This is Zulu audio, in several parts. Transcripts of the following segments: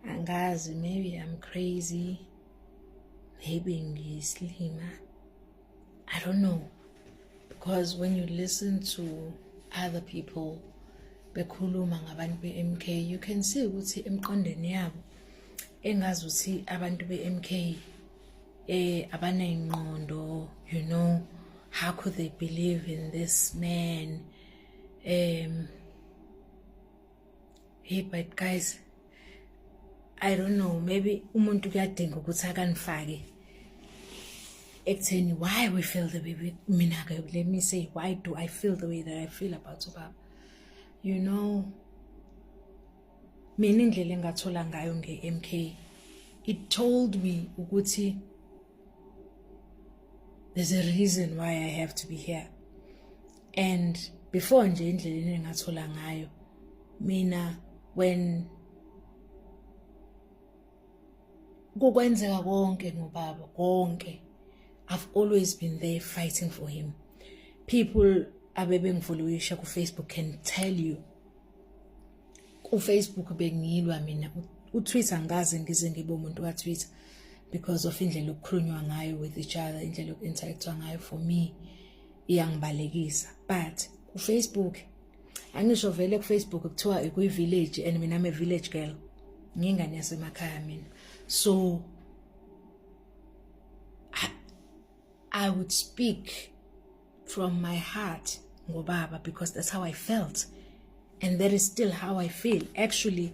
angazi maybe i'm crazy maybe ngiyisilima i don't know because when you listen to other people bekhuluma ngabantu be-mk you can see ukuthi emqondweni yabo engazi ukuthi abantu be-mk eh abaneyinqondo you know how could they believe in this man um hey but guys i don't know maybe umuntu kuyadinga ukuthi akanifake ekutheni why we feel the way mina-ke let me say why do i feel the way that i feel about ubaba you know mina indlela engathola ngayo nge-m k it told me ukuthi there's a reason why i have to be here and before nje indlela engathola ngayo mina when kukwenzeka konke ngobaba konke I've always been there fighting for him people abebengifollowisha ku Facebook can tell you ku Facebook bengilwa mina u Twitter ngaze ngize ngibe umuntu ka Twitter because of indlela okukhulunywa ngayo with each other indlela okuinteractwa ngayo for me iyangibalekisa but kufacebook angisho vele kufacebook kuthiwa ikuyivillage and mina me village girl ngingane yasemakhaya mina so I, i would speak from my heart ngobaba because that's how i felt and that is still how i feel actually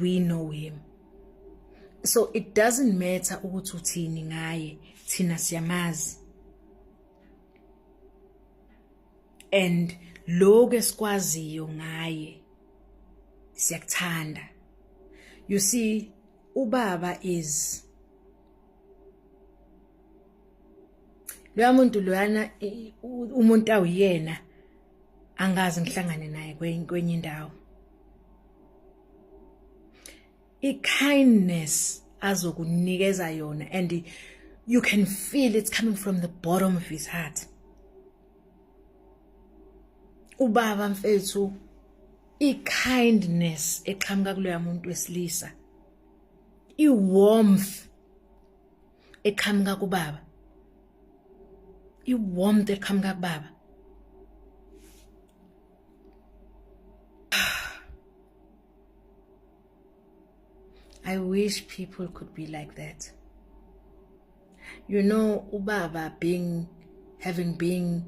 we know him so it doesn't matter ukuthi uthini ngaye thina siyamazi and lokho esikwaziyo ngaye siyakuthanda you see ubaba is loya muntu loyana umuntu awuyena angazi ngihlangane naye kwenye indawo i-kindness azokunikeza yona and you can feel it's coming from the bottom of his heart ubaba mfethu i-kindness eqhamuka kuloya muntu wesilisa i-warmth eqhamuka kubaba iwarmth eqhamuka kubaba I wish people could be like that. You know, Ubaba being having been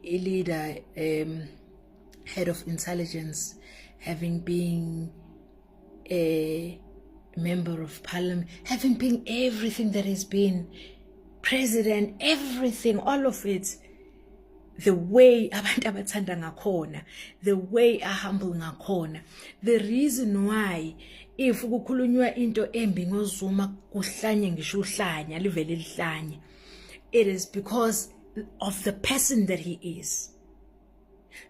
a leader, um, head of intelligence, having been a member of parliament, having been everything that has been president, everything, all of it. The way abantu abathanda ngakhona, the way ahumble ngakhona. The reason why if kukhulunywa into embi ngozuma kuhlanye ngisho uhlanya livele lihlanye. It is because of the person that he is.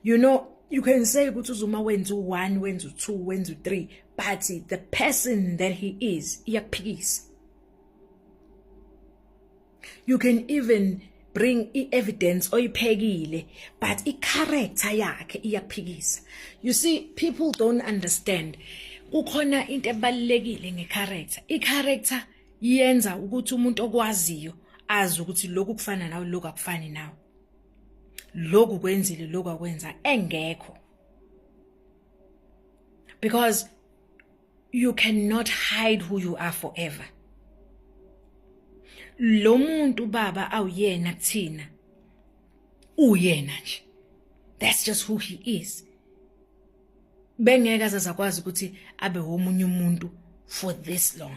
you know you can say ukuthi uzuma wenza u1 wenza u2 wenza u3 but the person that he is iyakuphikisa you can even bring i-evidence oyiphekile but i-character yakhe iyaphikisa you see people don't understand kukhona into ebalekile ngecharacter icharacter yenza ukuthi umuntu okwaziyo azi ukuthi lokhu kufana nawe lokhu akufani nawe lokhu kwenzile lokhu akwenza engekho because you cannot hide who you are forever lo muntu baba awuyena kuthina uyena nje that's just who he is bengeke azazakwazi ukuthi abe womunye umuntu for this long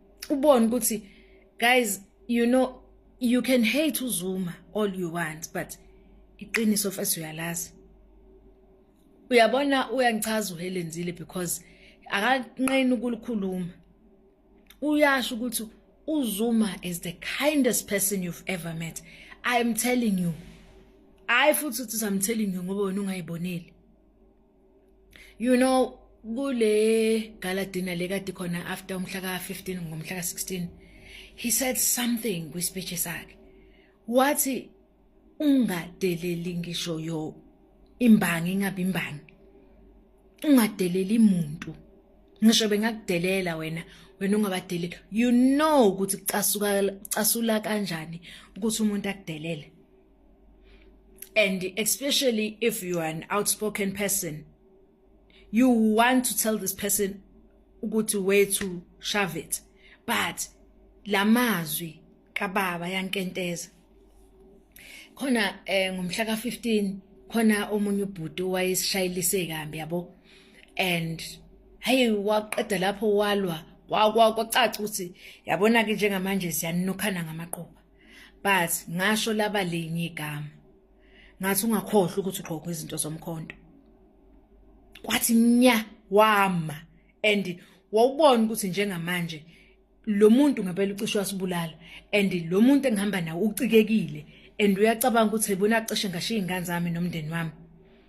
ubone ukuthi guys you know you can hate uzuma all you want but iqiniso first uyalazi uyabona uyangichaza uhelenzile because akanqeni ukulikhuluma uyasho ukuthi uzuma is the kindest person you've ever met i am telling you hayi futhi uthi I'm telling you ngoba wena ungayiboneli you know kule gala dinner lekade khona after umhla ka-15 ngomhla ka-16 he said something kwispeech sakhe wathi ungadeleli ngisho yo imbangi ingabe imbangi ungadeleli muntu ngisho bengakudelela wena wena ungabadeleli you know ukuthi casuka casula kanjani ukuthi umuntu akudelele and especially if you are an outspoken person you want to tell this person ukuthi wethu shove it but lamazwi kababa yankenteza khona eh ngomhla ka15 khona omunye ubhuti wayesishayilise kambi yabo and hey waqeda lapho walwa kwacaca ukuthi yabona ke njengamanje siyanukhana ngamaquba but ngasho laba linye igama ngathi ungakhohlwa ukuthi ugqoka izinto zomkhonto kwathi nya wama and wawubona ukuthi njengamanje lo muntu ngempela ucishe wasibulala and lo muntu engihamba nawo ucikekile and uyacabanga ukuthi yibona acishe ngashiya ingane zami nomndeni wami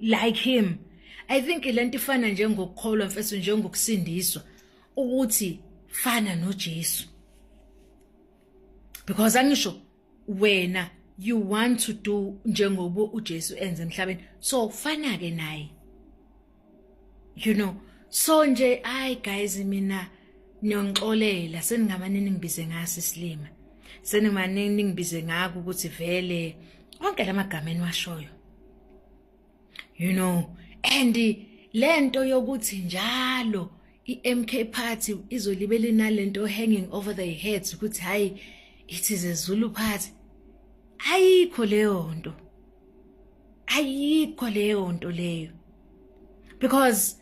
like him i think lento ifana njengokukholwa mfethu njengokusindiswa ukuthi fana noJesu because angisho wena you want to do njengoba uJesu enze emhlabeni so fana ke naye you know so nje ay guys mina niyongixolela seningamane ningibize ngasi silima senimane ningibize ngaku ukuthi vele onke lamagama eniwashoyo you know and lento yokuthi njalo iMK party izolibele nalento hanging over their heads ukuthi hayi it is a Zulu party ayikho leyo nto ayikho leyo nto leyo because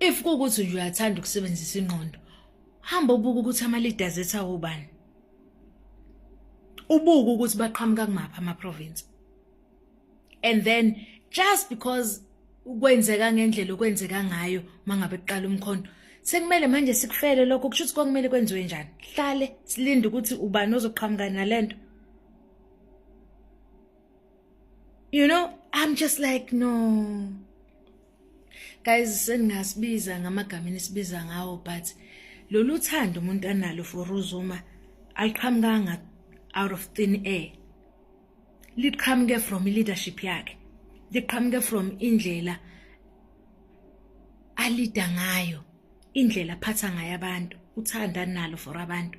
if kukuthi nje uyathanda ukusebenzisa ingqondo hamba ubuka ukuthi ama leaders ethu awubani ubuka ukuthi baqhamuka kumaphi ama province and then just because ukwenzeka ngendlela okwenzeka ngayo mangabe kuqala umkhondo sekumele manje sikufele lokho kusho ukuthi kwakumele kwenziwe njani hlale silinde ukuthi ubani ozoqhamuka nalento you know i'm just like no guys seningasibiza ngamagama enisibiza ngawo but lolu thando umuntu analo for uzuma aliqhamukanga out of thin air liqhamuke from leadership yakhe liqhamuke from indlela alida ngayo indlela aphatha ngayo abantu uthanda nalo for abantu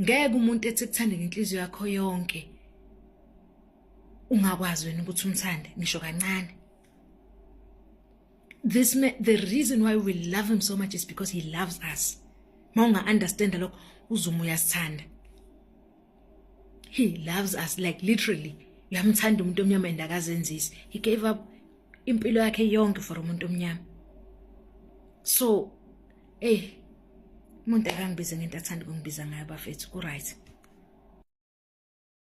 ngeke umuntu ethi kuthanda ngenhliziyo yakho yonke ungakwazi wena ukuthi umthande ngisho kancane this man, the reason why we love him so much is because he loves us ma unga understand lokho uzuma uyasithanda he loves us like literally uyamthanda umuntu omnyama and akazenzisi he gave up impilo yakhe yonke for umuntu omnyama so eh umuntu akangibize ngento athanda ukungibiza ngayo bafethu ku right